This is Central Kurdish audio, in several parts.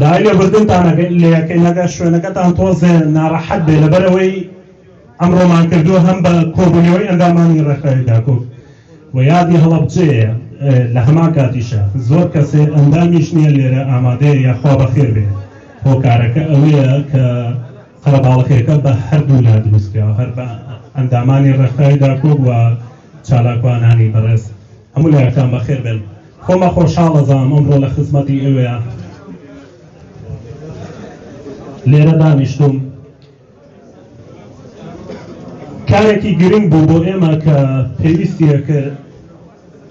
داوای لێبوردنتان ئەگەر لێەکەین ئەگەر شوێنەکەتان تۆزێ ناڕەحەت بێ لەبەرەوەی ئەمڕۆمان کردو هەم بە کۆبوونەوەی ئەندامانی ڕێکخراوی داکۆک و یادی هەڵەبجەیە لە هەمان کاتیشە زۆر کەسێ ئەندامیش نییە لێرە ئامادەیە یاخوا بەخێر بێ هۆکارەکە ئەوەیە کە قەرەباڵەکەەکە بە هەردوو لا دروستکرا هەر بە ئەندامانی ڕێکخراوی داکۆک و چالاکوانانی بەڕێز هەموو لایەکتان بەخێر بێن خۆمە خۆشحاڵەزانم ئەمڕۆ لە خزمەتی ئێوەیە لێرە دانیشتم کارێکی گرنگ بوو بۆ ئێمە کە پێویستیە کرد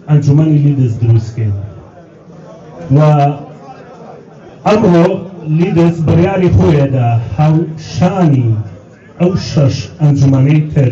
ئەنجومەنی لیدز دروستکەین و ئەمڕۆ لیدز بڕیاری خۆیەدا هاوشانی ئەو شەش ئەنجومەنەی تر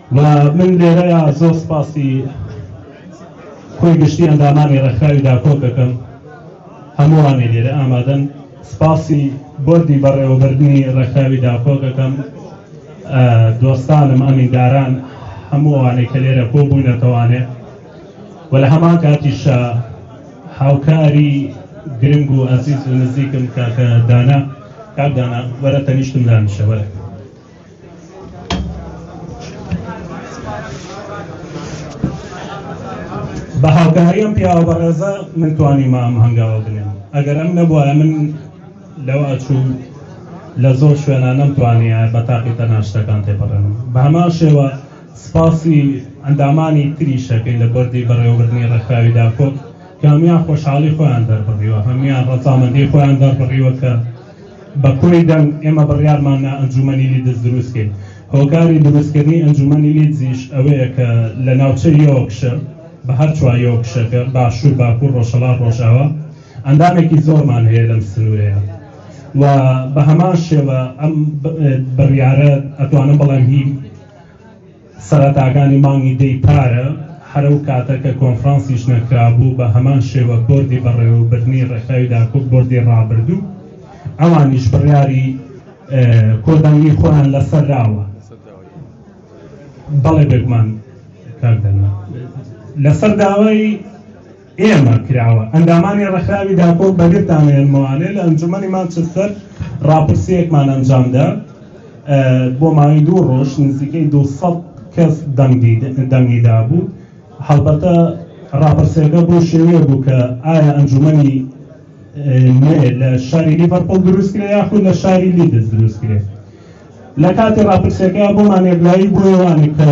و من لێرەیا زۆر سپاسی کۆی گشتی ئەندامانی ڕێکخراوی داکۆک دەکەم هەمووانی لێرە ئامادەن سپاسی بۆردی بەڕێوەبردنی ڕێکخراوی داکۆک دەکەم دۆستانم ئەمینداران هەمووانێک کە لێرە کۆ بوونەتەوانێ و لە هەمان کاتیشە هاوکاری گرنگ و ئەزیز و نزیکم کاکە دانا کاک دانا وەرە تەنیشتم دانیشە وەرە بە هاوکاری ئەم پیاوە بەڕێزە من توانیمە ئەم هەنگاوە بنێم ئەگەر ئەم نەبووە من لەو ئەچوو لە زۆر شوێنە نەمتوانە بە تاقی تەناشتەکان تێپەڕێن بە هەمان شێوە سپاسی ئەندامانی تری شەکەین لە بەردی بەڕێوەبردننی ڕێکخراوی داکۆک کامیان خۆشحاڵی خۆیان دەربڕیوە هەمیان ڕەزامەندی خۆیان دەربڕیوە کە بە کۆی دەنگ ئێمە بڕیارمان نا ئەنجومەنی لیدز دروستکەین هۆکاری دروستکردنی ئەنجومەنی لیدزیش ئەوەیە کە لە ناوچە یۆکشە بە هەر چوار یۆکشەکە باشوور باکوور ڕۆژهەڵات ڕۆژاوا ئەندامێکی زۆرمان هەیە لەم سنوورەیە و بە هەمان شێوە ئەم بڕیارە ئەتوانم بەڵێن هی سەرەتاکانی مانگی دەی پارە، هەر ئەو کاتە کە کۆنفرانسی ژنە کرابوو، بە هەمان شێوە بۆردی بەڕێوەبردنی ڕێکخراوی داکۆک بۆردی ڕابردوو ئەوانیش بڕیاری کۆدانیی خۆیان لەسەر داوە. بەڵێ بێگومان کاک دانا. لەسەر داوای ئێمە کراوە ئەندامانی ڕێکخراوی داکۆ بەگرتان هێنمەوانێ لە ئەنجومەنی مانچستەر ڕاپرسیەکمان ئەنجامدا بۆ ماوەی دوو ڕۆژ نزیکەی 200 کەس دەنگی دابوو هەڵبەتە ڕاپرسیەکە بۆ شێوەیە بوو کە ئایا ئەنجومەنی لە شاری لیڤەرپۆڵ دروستکرێ یاخود لە شاری لیدز دروستکرێت لە کاتی ڕاپرسیەکە بۆمان یەکلایی بۆێوانێک کە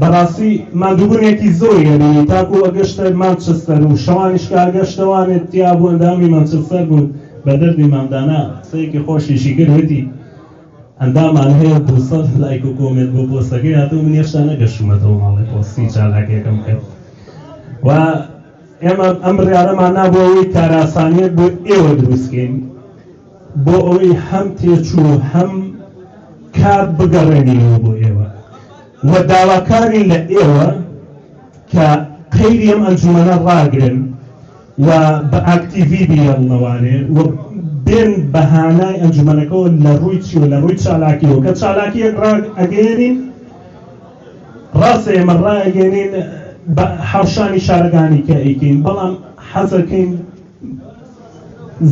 بەڕاستی ماندووبونێکی زۆری ئەبینی تاکو ئەگەشتە مانچستەر و شەوانیش کە ئەگەشتەوانێت تیا بوو ئەندامی مانچستەر بوون بە دەردی مامدانا قسەیەکی خۆشیشی کرد وتی ئەندامان هەیە دووسەد لایک و کۆمێنت بۆ پۆستەکەی هاتوو من هێشتا نەگەشتومەتەوە ماڵی پۆستی چالاکیەکەم کرد و ئێمە ئەم بڕارەمان نابوو ئەوەی کاراسانیت بۆ ئێوە دروستکەین بۆ ئەوەی هەم تێچوو هەم کار بگەڕێنینەوە بۆ ئێوە و داواکارین لە ئێوە کە قەیری ئەم ئەنجومەنە ڕاگرن و بە ئاکتیڤی بیەن لەوانێ و بێن بەهانای ئەنجومەنەکەەوە لە ڕووی چی و لە ڕووی چالاکیەوە کە چالاکیەک ڕاگ ئەگەێنین ڕاستە ئێمە ڕاگەێنین بە حوشانی شارەکانی کە ئەیکەین بەڵام حەزەکەین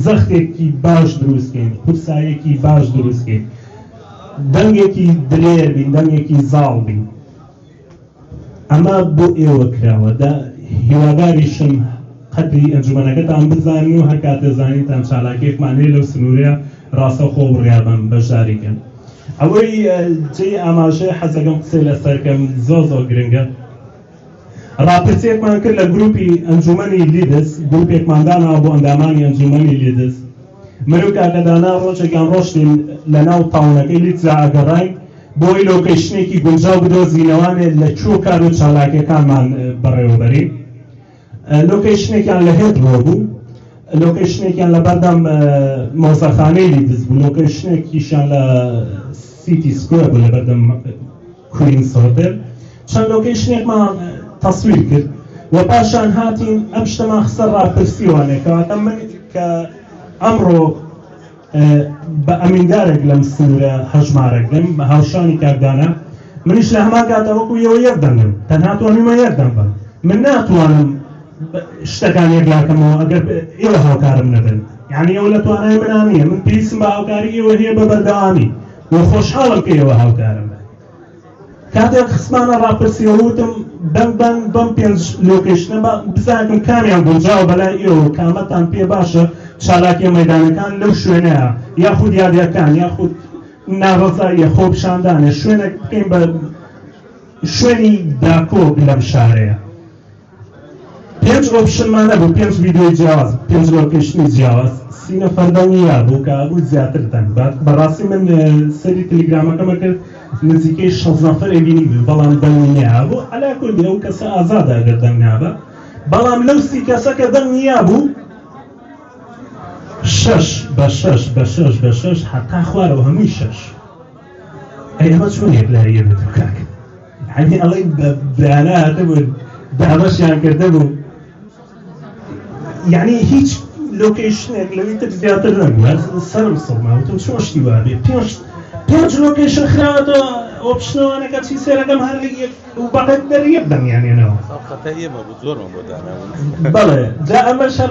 زەختێکی باش دروست کەین قورسایەکی باش دروست کەین دەنگێکی درێر بین دەنگێکی زاڵ بین ئەمە بۆ ئێوە کراوە دا هیواداریشم قەدری ئەنجومەنەکەتان بزانین و هەر کاتێ زانینتان چالاکیەکمان هەیە لەو سنوورە ڕاستەخۆ بڕیابم بەشداریکەن ئەوەی جێی ئاماژەیە حەزەکەم قسەی لەسەرکەم زۆ زۆ گرنگە ڕاپرسیەکمان کرد لە گروپی ئەنجومەنی لیدز گروپێکمان داناوە بۆ ئەندامانی ئەنجومەنی لیدز من و کاکە دانا ڕۆژێکیان ڕۆشتین لە ناو تاونەکەی لیدزا ئەگەڕین بۆی لۆکەیشنێکی گونجاو بدۆزینەوانێ لە چۆ کار و چالاکیەکانمان بەڕێوەبەرین لۆکەیشنێکیان لە هێت بۆ بوو لۆکەیشنێکیان لە بەردەم مۆزەخانەی لیدز بوو لۆکەیشنێکیشان لە سیتی سکوێر بوو لە بەردەم کوین سۆرتێل چەند لۆکەیشنێکمان تەسویر کرد و پاشان هاتین ئەم شتەمان خستە ڕاپرسیوانێک کەواتە من کە ئەمڕۆ بە ئەمیندارێک لەم سنوورە هەژمارێک دەم بە هاوشانی کاردانە منیش لە هەما کاتەوەکو یەوە یەک دەنگم تەنها تۆنیمە یەک دەم بم من ناتوانم شتەکان یەکلاکەمەوە ئەگەر ئێوە هاوکارم نەبن یعنی ئەو لە توانای منانە من پێویستم بە هاوکاری ئێوە هەیە بە بەردەوامی و خۆشحاڵم پێیەوە هاوکارم کاتێک خسمانە ڕاپرسیەوە وتم بەم بەم بەم پێنج لۆکێشنەمە بزانم کامیان گونجاو بەلای ئێوە کامەتان پێ باشە چالاکیە مەدانەکان لەو شوێنەیە یاخود یادەکان یاخود ناڕزاییە خۆپشاندانە شوێنە بکەین بە شوێنی داکۆک لەم شارەیە پێنج ئۆپشنمان هەبوو پێنج ڤیدیۆی جیاواز پێنج لۆکیشنی جیاواز سی نەفەر دڵنیا بوو کە بوو زیاتر دەنگ بات بەڕاستی من سەری تەلیگرامەکەمە کرد نزیکەی شەست نەفەرێ بینی بوو بەڵام دەنگی نیا بوو عەلا کورد ئەو کەسە ئازادە ئەگەر دەنگ نابە بەڵام لەو سی کەسەکە دەنگ نیا بوو شەش بە شەش بە شەش بە شەش حەقا خوارەوە هەمووی شەش ئەی ئەمە چۆن یەکلاییە بێت کاک عەلی ئەڵێ بەیانە هاتبوون دابەشیان کردە بوو یعنی هیچ لۆکیشنێک لەوی تر زیاتر نەبوو سەرم سەڵماوتم چۆن شتی وابێ پێش پێنج لۆکیشن خراوەتەوە ئۆپشنەوانەکە چی سێرەکەم هەر یەک و بەقەت دەریەک دەمیانێنەوە بەڵێ جا ئەمە شەر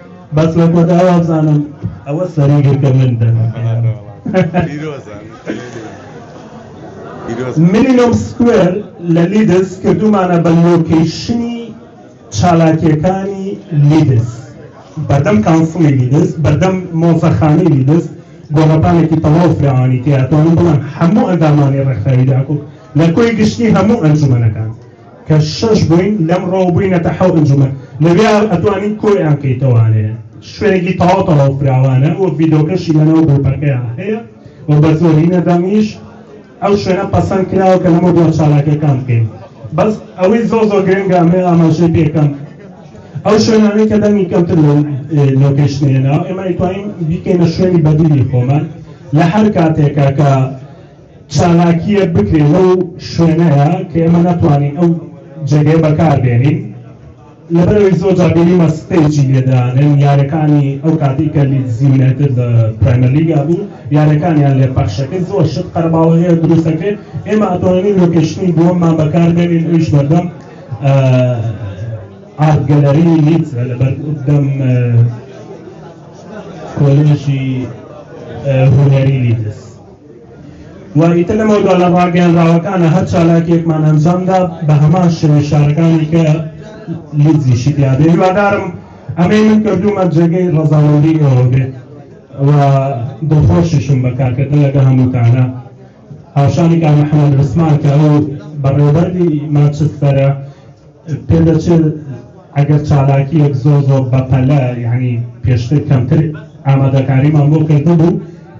بەس لە کۆتا وابزانم ئەوە سەری گرتە من مینیمم سکوێر لە لیدس کردومانە بە لۆکیشنی چالاکیەکانی لیدس بەردەم کانسڵی لیدس بەردەم مۆزەخانی لیدس گۆڕەپانێکی تەواو فراوانی تیاتوانم بڵم هەموو ئەندامانی ڕێکخراوی داکو لە کۆی گشتی هەموو ئەنجومەنەکان کە شەش بووین لەم ڕۆ بووینەتە حەوت ئەنجومەن لەوێ ئەتوانین کۆیان کەیتەوانێ شوێنێکی تەواو تەواو فراوانە وەک ڤیدۆکەشی لەناو گروپەکەیان هەیە و بە زۆرینە دەمیش ئەو شوێنە پەسەند کراوە کە لەمە دو چالاکەکان بکەین بەس ئەوەی زۆ زۆ گرنگە ئەمێ ئاماژەی پێکەم ئەو شوێنانەی کە دەنگی کەمتر لۆکەشتێنەوە ئێمە ئەیتوانین بیکەینە شوێنی بەدیلی خۆمان لە هەر کاتێکە کە چالاکییەک بکرێ لەو شوێنەیە کە ئێمە نەتوانین ئەو جێگەیە بەکار بێنین لەبەرەوەی زۆر جا بینیمە ستەیجی لێدانن یارەکانی ئەو کاتی کە لیدز یونایتد لە پرایمەر لیگا بوو یارەکانیان لێ پەخشەکە زۆر شت قەرباڵەیە دروستەکەی ئێمە ئەتوانین لۆکیشنی دووەممان بەکار بێنین ئەویش بەردەم ئارت گەلەری لیدز لە بەردەم کۆلێژی هونەری لیدز و ئیتر لەمەو دووا لە ڕاگەیەنراوەکانە هەر چالاکیەکمان ئەنجامدا بە هەمان شێوەی شارەکانی کە لیدزی شتیا بێ هیوادارم ئەمەی من کردومە جێگەی ڕەزاوەندی ئەوە بێ و دڵخۆشیشم بە کارکردن لەگە هەمووتانە هاوشانی کار محەممەد عوسمان کە ئەو بەڕێوەبەری ماچستەرە پێدەچێت ئەگەر چالاکیەک زۆر زۆر بەپەلە یعنی پێشتر کەمتر ئامادەکاریمان بۆ کردبوو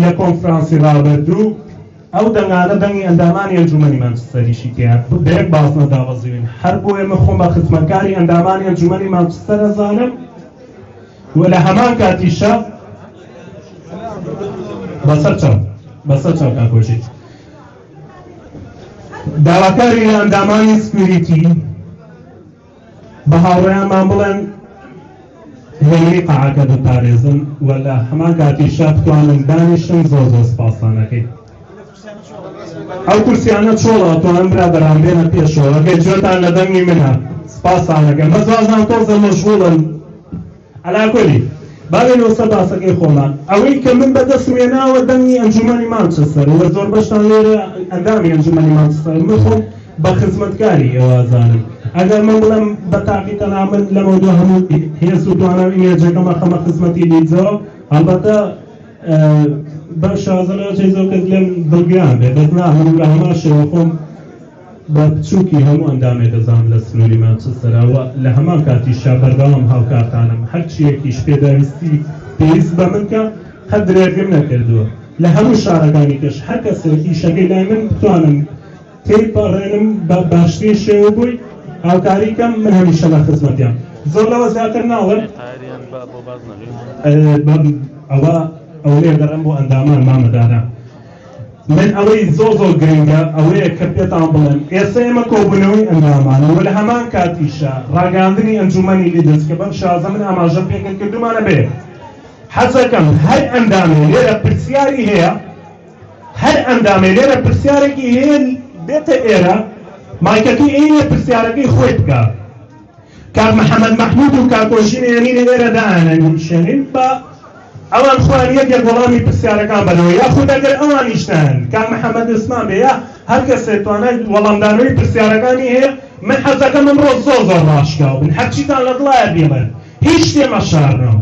لە کۆنفرانسی ڕابردوو ئەو دەنگانە دەنگی ئەندامانی ئەنجومەنی مانچستەریشی تێیان بە یەک بازنە دابەزیون هەر بۆیە من خۆم بە خزمەتکاری ئەندامانی ئەنجومەنی مانچستەر ئەزانم و لە هەمان کاتیشە بەسەر چاو بەسەر چاو کاکۆژی داواکاری لە ئەندامانی سکوریتی بە هاوڕێیانمان بڵێن لەوەی قەعەکە بپارێزن و لە هەمان کاتیشا بتوانن دانیشن زۆر زۆر سپاسانەکەی ئەو کورسیانە چۆڵە تۆم برا بەرامبێنە پێشەوە گەجێتان لە دەنگی منە سپاسانەکەم بەزازان تۆزە مەشغوڵن عەلاکۆلی، با بێینەوە سەر باسەکەی خۆمان. ئەوەی کە من بە دەستم هێناوە دەنگی ئەنجوومەنی مانچستەرە و زۆر بەشتان لێرە ئەندامی ئەنجوومەنی مانچستەرن. من خۆم بە خزمەتکاری ئێوە ئەزانم. ئەگەر من بڵێم بە تاقی تەنها من لەمەودوا هەموو هێز و توانا و ئیمێجەکەم ئەخەمە خزمەتی لیدزەوە، هەڵبەتە بەم شازە لەوەتەی زۆر کەس لێم دڵگران بێت، بەس نا، من بە هەمان شێوە خۆم بە بچووکی هەموو ئەندامێ دەزانم لە سنووری مانچستەرا و لە هەمان کاتیشا بەردەوام هاوکارتانم، هەرچییەکیش پێداویستی پێویست بە من کە قەت درێغیم نەکردووە، لە هەموو شارەکانی کەش هەر کەسێک ئیشەکەی لای من بتوانم تێیپەڕێنم بە باشترین شێوە بۆی هاوکاری کەم، من هەمیشە لە خزمەتیان. زۆر لەوە زیاتر ناڵێم. ئەوە ئەوەیە دەڕێم بۆ ئەندامان مامەداران. من ئەوەی زۆر زۆر گرنگە ئەوەیە کە پێتان بڵێم ئێستا ئێمە کۆبوونەوەی ئەندامانە و لە هەمان کاتیشە ڕاگەیاندنی ئەنجوومەنی لیدز کە بەم شازە من ئاماژەم پێکرد کردومانە بێ حەزەکەم هەر ئەندامێ لێرە پرسیاری هەیە هەر ئەندامێ لێرە پرسیارێکی هەیە بێتە ئێرە مایکەکەی ئێرە پرسیارەکەی خۆی بکە کاک محمد محمود و کاک ئۆژین ئێمینی ئێرە دائەنەنیشێنین بە ئەوان خوان یەکێک وەڵامی پرسیارەکان بەرەوە یا خود ئەگەر ئەوانیش نان کاک محمد عوسمان بێ یا هەر کەسێ توانای وەڵامدانەوەی پرسیارەکانی هەیە من حەزەکەم ئەمڕۆ زۆر زۆر ڕاشکاو بن هەرچیتان لە دڵایە بێڵێن هیچ شتێ مەشارنەوە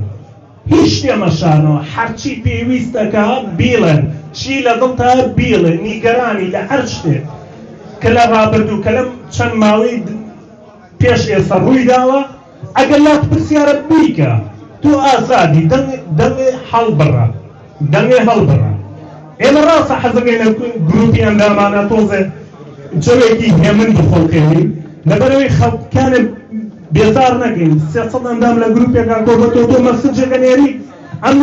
هیچ شتێ مەشارنەوە هەرچی پێویستەکە بیڵێن چی لە دڵتا بیڵێ نیگەرانی لە هەر شتێک کە لە ڕابردوو کە لەم چەند ماوەی پێش ئێستا ڕووی داوە ئەگەر لات پرسیارە بیکە تۆ ئازادی دەمێ هەڵبڕە دەمێ هەڵبڕە ئێمە ڕاستە حەزەکەی لە گروپی ئەندامانە تۆزێ جەوێکی هێمن بخۆڵکەوی لەبەرەوەی خەڵکانە بێزار نەکەین سێ سەد ئەندام لە گروپێکا کۆ بە تۆ تۆ مەسجێکە نێری ئەم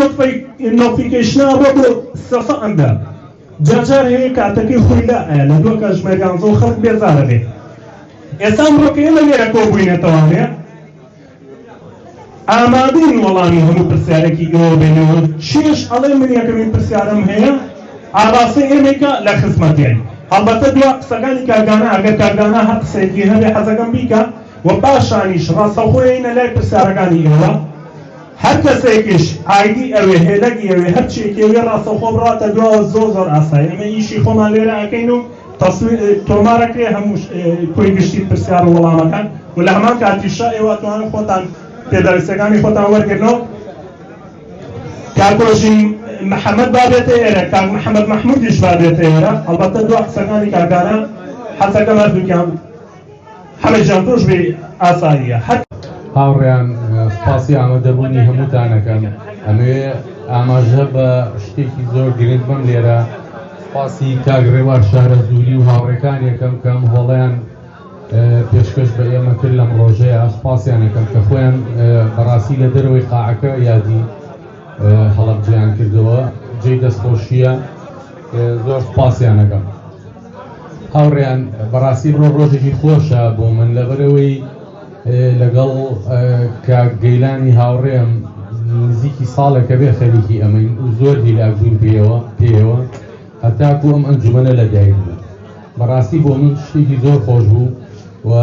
نۆفیکەیشنا بۆ بۆ سێ سەد ئەندام جاجار هەیە کاتەکەی خۆی لا ئەیە لە دووە کە ژمێریان زۆر خەڵک بێزارە بێت ئێستا ئەمڕۆ کە ئێمە لێرە کۆبووینەتەوانێ ئامادەین وەڵامی هەموو پرسیارێکی ئێوە بێنەوە چێش ئەڵێ من یەکەمین پرسیارم هەیە ئاڕاستەی ئێمەیکە لە خزمەتێن هەڵبەتە دوا قسەکانی کاردانە ئەگەر کاردانە هەر قسەیەکی هەبێ حەزەکەم بیکە و پاشانیش ڕاستەوخۆ یەینە لای پرسیارەکانی ئێوە هەر کەسێکیش ئایدی ئەوێ هێلەگی ئەوێ هەرچیەکی ئەوێ ڕاستەوخۆ بڕاتە دواوە زۆر زۆر ئاسای ئەمە ئیشی خۆمان لێرە ئەکەین و تەسویر تۆمارەکرێ هەمووش کۆی گشتی پرسیار و وەڵامەکان و لە هەمان کاتیشە ئێوە توانن خۆتان پێداویستەکانی خۆتان وەرگرنەوە کاکۆژی محەممەد بابێتە ئێرە کاک محەممەد مححمودیش بابێتە ئێرە ئەڵبەتە دو قسەکانی کاکانە حەزەکەم هەردووکیان حەمە جان تۆش بێ ئاساییە هەر هاوڕێیان سپاسی ئامادەبوونی هەمووتانەکەن ئەمەوێ ئاماژە بە شتێکی زۆر گرنگ بم لێرە سپاسی کاگڕێوار شارە زووری و هاوڕێکان یەکەم کەم هۆڵیان پێشکەش بە ئێمە کرد لەم ڕۆژەیە سپاسیانەکەم کە خۆیان بەڕاستی لە دەرەوەی قاعەکە یادی هەڵبجیان کردەوە جێ دەستخۆشیە زۆر سپاسیانەکەم. هاوڕێیان بەڕاستی بڕۆ ڕۆژێکی خۆشە بۆ من لەبەرەوەی لەگەڵ کاک گەیلانی هاوڕێم نزیکی ساڵێکە بێ خەریکی ئەمەین و زۆر دیلاک بووین پێوە پێوە هەتاکو ئەم ئەنجومەنە لە دایک بوو بەڕاستی بۆ من شتێکی زۆر خۆش بوو و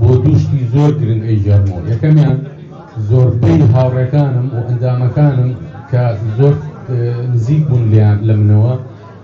بۆ دوشتی زۆر گرنگ ئەی جەرمۆ یەکەمیان زۆربەی هاوڕێکانم و ئەندامەکانم کە زۆر نزیک بوون لیان لە منەوە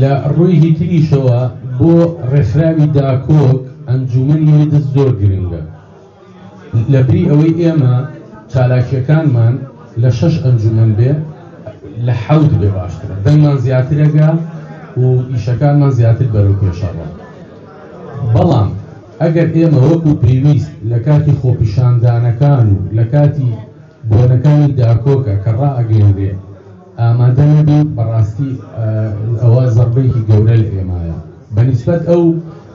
لە ڕوویی تریشەوە بۆ ڕێکخراوی داکۆک ئەنجومەنی هێدز زۆر گرنگە لە بری ئەوەی ئێمە چالاکیەکانمان لە شەش ئەنجومەن بێ لە حەوت بێ باشترە دەنگمان زیاترەگە و ئیشەکانمان زیاتر بەرەو پێشەڕە بەڵام ئەگەر ئێمە وەکو پێویست لە کاتی خۆپیشاندانەکان و لە کاتی بۆنەکانی داکۆکە کە ڕائگەێنرێ ئامادە نەبیت بەڕاستی ئەوە زەبێکی گەورە لە ئێمایە بەنیسبەت ئەو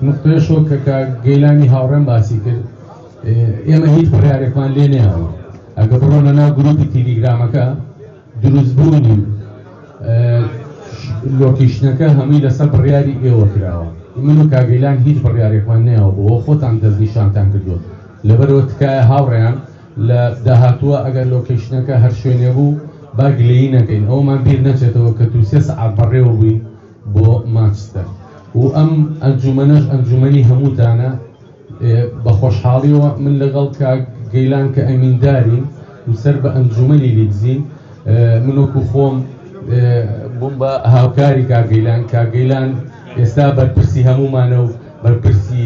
نقطێشۆ کە کە گەیلانی هاوڕێن باسی کرد ئێمە هیچ پرارێکمان لێ نێەوە ئەگە بڕۆنە ناو گروپی تیلیگرامەکە دروستبوونی لۆکیشنەکە هەمووی لەسەر بڕیاری ئێوە کراوە من و کاگەیلان هیچ بڕیارێکمان نێەوە بۆ خۆتان دەستنیشانتان کردووە لەبەرەوە تکایە هاوڕێیان لە داهاتووە ئەگەر لۆکەیشنەکە هەر شوێنێ بوو با گلەیی نەکەین ئەوەمان بیر نەچێتەوە کە دوو سێ سەعات بەڕێوە بووین بۆ مانچستەر و ئەم ئەنجومەنەش ئەنجومەنی هەمووتانە بە خۆشحاڵیەوە من لەگەڵ کاک گەیلان کە ئەمیندارین و سەر بە ئەنجومەنی لیدزین منۆکو خۆم بووم بە هاوکاری کاگەیلان کاگەیلان ئێستا بەرپرسی هەموومانە و بەرپرسی